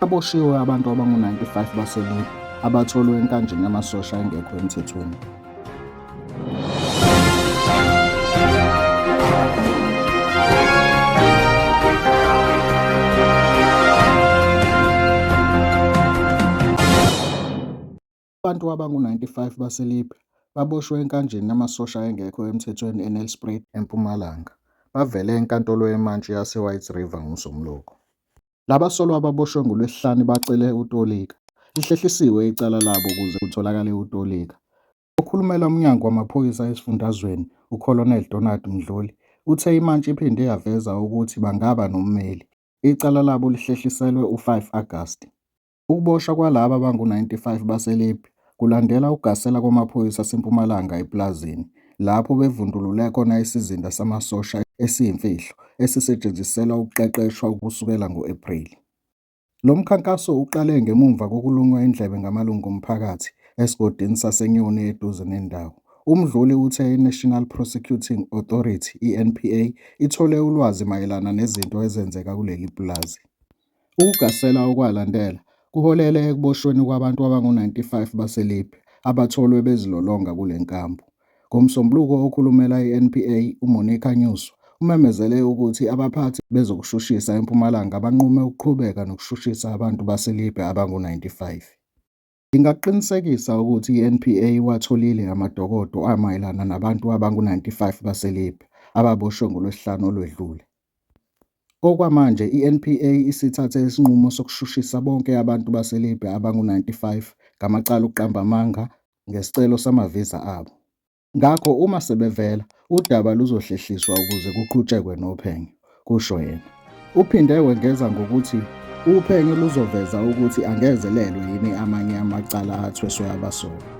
Aboshiwe abantu abangu-95 baseLibe abatholwe enkanjini yamasosha engekho emthethweni. Abantu abangu-95 baseLibya baboshwe enkanjini yamasosha engekho emthethweni eNelspruit, eMpumalanga, bavele eNkantolo yeMantshi yaseWhite River ngoMsombuluko. Laba solwa ababoshwe ngoLwesihlanu bacele ukutolika. Lihlehlisiwe icala labo ukuze kutholakale ukutolika. Okhulumela uMnyango wamaPhoyisa esifundazweni, uColonel Donald Mdhluli, uthe iMantshi iphinde yaveza ukuthi bangaba nommeli. Icala labo lihlehliselwe u-5 Agasti. Ukuboshwa kwalaba bangu-95 baseLibya kulandela ukugasela kwamaphoyisa aseMpumalanga epulazini, lapho bevundulule khona isizinda samasosha esiyimfihlo esisetshenziselwa ukuqeqeshwa kusukela ngo-Ephreli. Lo mkhankaso uqale ngemuva kokulunywa indlebe ngamalungu omphakathi esigodini saseNyoni eduze nendawo. UMdluli uthe iNational Prosecuting Authority, iNPA, ithole ulwazi mayelana nezinto ezenzeka kuleli pulazi. Ukugasela okwalandela kuholele ekuboshweni kwabantu abangu-95 baseLibya abatholwe bezilolonga kule nkampu. NgoMsombuluko okhulumela i-NPA uMonica Nyuswa umemezele ukuthi abaphathi bezokushushisa eMpumalanga banqume ukuqhubeka nokushushisa abantu baseLibya abangu-95. Ngingakuqinisekisa ukuthi iNPA iwatholile amadokodo amayelana nabantu abangu-95 baseLibya ababoshwe ngoLwesihlanu olwedlule. Okwamanje iNPA isithathe isinqumo sokushushisa bonke abantu baseLibya abangu-95 ngamacala okuqamba amanga ngesicelo sama-visa abo. Ngakho uma sebevela, udaba luzohlehliswa ukuze kuqhutshekwe nophenyo, kusho yena. Uphinde wengeza ngokuthi uphenyo luzoveza ukuthi angezelelwe yini amanye amacala athweswe abasolwa.